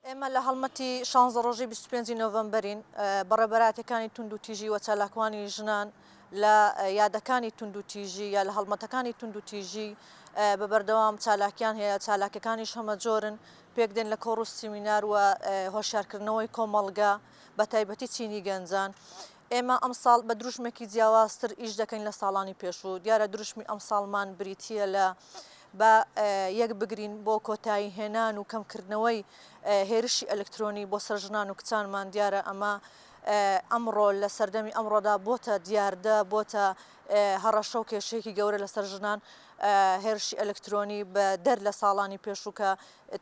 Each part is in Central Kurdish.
ئێمە لە هەڵمەتی شانزە ڕۆژەی بیست و پێنجی نۆڤەمبەرین، بە ڕێبەراتییەکانی توندوتیژی و چالاکوانی ژنان لە یادەکانی توندوتیژی یا لە هەڵمەتەکانی توندوتیژی بە بەردەوام چالاکیان هەیە، چالاکیەکانیش هەمەجۆرن، پێکدێن لە کۆڕ و سیمینار و هۆشیارکردنەوەی کۆمەڵگە، بەتایبەتی چینی گەنجان. ئێمە ئەمساڵ بە دروشمێکی جیاوازتر ئیش دەکەین لە ساڵانی پێشوو، دیارە دروشمی ئەمساڵمان بریتییە لە با یەک بگرین بۆ کۆتایی هێنان و کەمکردنەوەی هێرشی ئەلکترۆنی بۆ سەر ژنان و کچانمان، دیارە ئەمە ئەمڕۆ لە سەردەمی ئەمڕۆدا بۆتە دیاردە، بۆتە هەڕەشە و کێشەیەکی گەورە لەسەر ژنان، هێرشی ئەلکترۆنی بە دەر لە ساڵانی پێشوو کە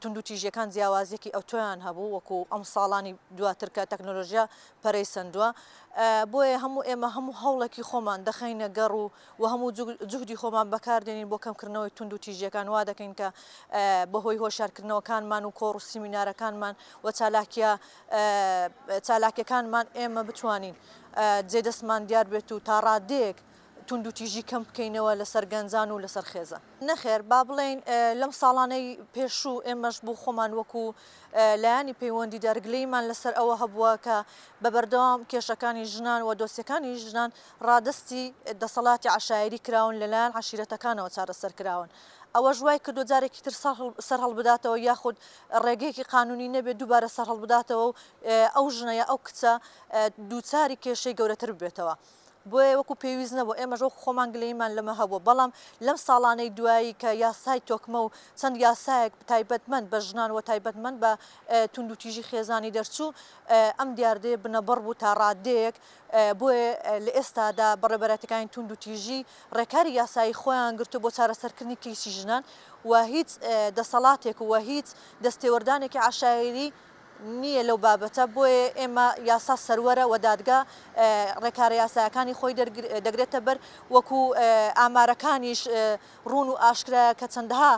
توندوتیژیەکان جیاوازیەکی ئەوتۆیان هەبوو وەکو ئەم ساڵانی دواتر کە تەکنۆلۆژیا پەرەی سەندووە بۆیە هەموو ئێمە هەموو هەوڵێکی خۆمان دەخەینە گەڕ و و هەموو جوهدی خۆمان بەکاردێنین بۆ کەمکردنەوەی تونند و تیژیەکان وا دەکەین کە بەهۆی هۆشارکردنەوەکانمان و کۆڕ و سیمینارەکانمان و چالاکیە چالاکەکانمان ئێمە بتوانین جێ دەستمان دیار بێت و تاڕادێک توندوتیژی کەم بکەینەوە لەسەر گەنجان و لەسەر خێزان نەخێر با بڵێین لەم ساڵانەی پێشوو ئێمەش بوو خۆمان وەکو لایانی پەیوەندی دەرگلیمان لەسەر ئەوە هەبووە کە بە بەردەوام کێشەکانی ژنان و دۆسیەکانی ژنان ڕادستی دەسەڵاتی عشاعری کراون لەلایەن عشیرەتەکانەوە چارەسەر کراون ئەوە ژوای کردو جارێکی تر سەر هەڵبداتەوە یاخود ڕێگەیەکی قانونی نەبێت دووبارە سەر هەڵبداتەوە و ئەو ژنەیە ئەو کچە دووچاری کێشەی گەورەتر ببێتەوە. بۆیە وەکو پێویست نەبوو، ئێمەش وەکو خۆمان گلەییمان لەمە هەبوو، بەڵام لەم ساڵانەی دوایی کە یاسای تۆکمە و چەند یاسایەک تایبەتمەند بە ژنان و تایبەتمەند بە توندوتیژی خێزانی دەرچوو، ئەم دیاردەیە بنەبڕ بوو تا ڕاددەیەک، بۆیە لە ئێستادا بەڕێوەبەرایەتیەکانی توندوتیژی ڕێکاری یاسایی خۆیان گرتووە بۆ چارەسەرکردنی کەیسی ژنان و هیچ دەسەڵاتێک و هیچ دەستێوەردانێکی عەشایەری نییە لەو بابەتە، بۆیە ئێمە یاسا سەروەرە و دادگا ڕێکارە یاسایەکانی خۆی دەگرێتە بەر، وەکو ئامارەکانیش ڕوون و ئاشکرایە کە چەندەها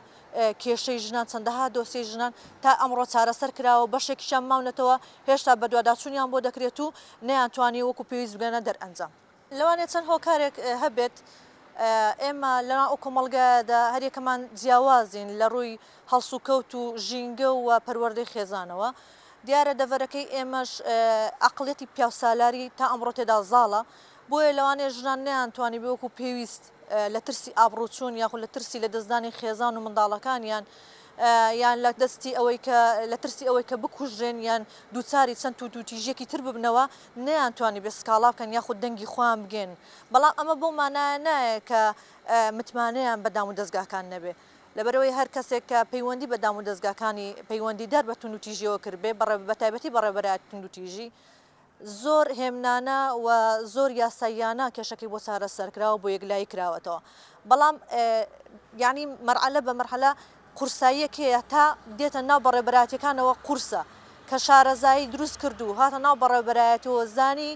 کێشەی ژنان، چەندەها دۆسیەی ژنان تا ئەمڕۆ چارەسەر کراوە و بەشێکیشیان ماونەتەوە هێشتا بەدواداچوونیان بۆ دەکرێت و نەیانتوانیوە وەکو پێویست بگەنە دەرئەنجام. لەوانەیە چەند هۆکارێک هەبێت، ئێمە لەناو ئەو کۆمەڵگایەدا هەریەکەمان جیاوازین لە ڕووی هەڵسوکەوت و ژینگە و پەروەردەی خێزانەوە، دیارە دەڤەرەکەی ئێمەش عەقڵیەتی پیاوسالاری تا ئەمڕۆ تێدا زاڵە، بۆیە لەوانەیە ژنان نەیانتوانیبێ وەکو پێویست لە ترسی ئابڕووچوون یاخود لە ترسی لەدەستدانی خێزان و منداڵەکانیان یان لە دەستی ئەوەی کە لە ترسی ئەوەی کە بکوژرێن یان دووچاری چەند تووتووتیژیەکی تر ببنەوە نەیانتوانی بێ سکاڵا بکەن یاخود دەنگی خۆیان بگێن، بەڵام ئەمە بەو مانایە نایە کە متمانەیان بە دامودەزگاکان نەبێ، لەبەرئەوەی هەر کەسێک کە پەیوەندی بە دامودەزگاکانی پەیوەندیدار بە توندوتیژیەوە کردبێ بەتایبەتی بەڕێوەبەرایەتی توندوتیژی زۆر هێمنانە و زۆر یاساییانە کێشەکەی بۆ چارەسەرکراوە بۆ یەکلایی کراوەتەوە بەڵام یانی مەرحەلە بە مەرحەلە قورساییە کێیە تا دێتە ناو بەڕێوبەرایەتیەکانەوە قورسە کە شارەزایی دروست کرد و هاتە ناو بەڕێوبەرایەتەوە زانی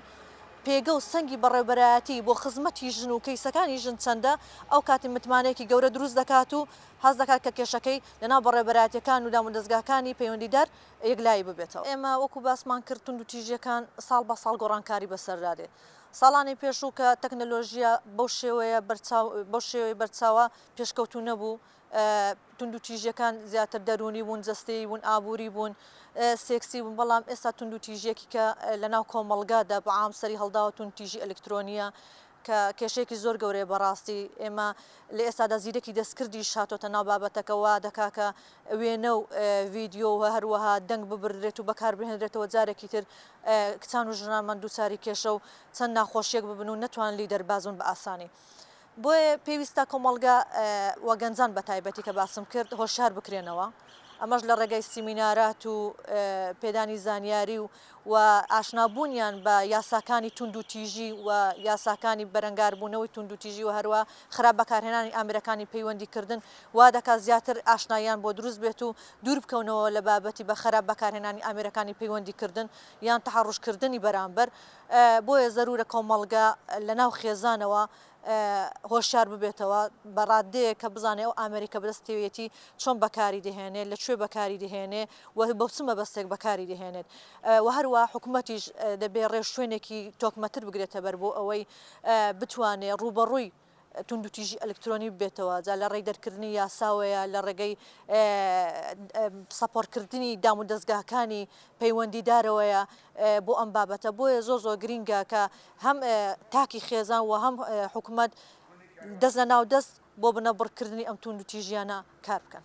پێگە و سەنگی بەڕێوبەرایەتی بۆ خزمەتی ژن و کەیسەکانی ژن چەندە ئەو کاتی متمانەیەکی گەورە دروست دەکات و هەست دەکات کە کێشەکەی لە ناو بەڕێوبەرایەتیەکان و دامودەزگاکانی پەیوەندیدار یەکلایی ببێتەوە. ئێمە وەکو باسمان کرد توندوتیژیەکان ساڵ بە ساڵ گۆڕانکاری بەسەردا دێ ساڵانی پێشوو کە تەکنەلۆژیا بەو شێوەیە بەرچاو بەو شێوەی بەرچاوە پێشکەوتوو نەبوو توندوتیژیەکان زیاتر دەروونی بوون، جەستەیی بوون، ئابووری بوون، سێکسی بوون، بەڵام ئێستا توندوتیژیەکی کە لەناو کۆمەڵگادا بە عام سەری هەڵداوە توندتیژی ئەلکترۆنیە کە کێشەیەکی زۆر گەورەیە بەڕاستی ئێمە لە ئێستادا زیرەکی دەستکردیش هاتۆتە ناو بابەتەکە وا دەکا کە وێنە و ڤیدیۆ و هەروەها دەنگ ببردرێت و بەکار بهێنرێتەوە جارێکی تر کچان و ژنانمان دووچاری کێشە و چەند ناخۆشیەک ببن و نەتوان لی دەرباز بن بە ئاسانی. بۆیە پێویستە کۆمەڵگە و گەنجان بە تایبەتی کە باسم کرد هۆشار بکرێنەوە ئەمەش لە ڕێگای سیمینارات و پێدانی زانیاری و و ئاشنابوونیان بە یاساکانی تونند و تیژی و یاساکانی بەرەنگاربوونەوەی تونند و تیژی و هەروە خراپ بەکارهێنانی ئامرەکانی پەیوەندی کردن وا دەکا زیاتر ئاشنایان بۆ دروست بێت و دوور بکەونەوە لە بابەتی بە خراپ بەکارهێنانی ئامرەکانی پەیوەندی کردن یان تەحڕشکردنی بەرامبەر بۆیە زەرورە کۆمەڵگە لە ناو خێزانەوە هۆشیار ببێتەوە بە ڕاددەیەک کە بزانێ ئەو ئامێری کە بەدەستیەتی چۆن بەکاری دەهێنێت لە کوێ بەکاری دەهێنێ و بە چ مەبەستێک بەکاری دەهێنێت و هەروە حکوومەتیش دەبێ ڕێوشوێنێکی تۆکمەتر بگرێتە بەر بۆ ئەوەی بتوانێ ڕووبەڕووی توندوتیژی ئەلکترۆنی ببێتەوە، جا لە ڕێی دەرکردنی یاساوەیە، لە ڕێگەی سەپۆڕکردنی دام و دەزگاکانی پەیوەندیدارەوەیە بۆ ئەم بابەتە، بۆیە زۆر زۆر گرینگە کە هەم تاکی خێزان و هەم حکومەت دەست لە ناو دەست بۆ بنەبڕکردنی ئەم توندوتیژیانە کار بکەن.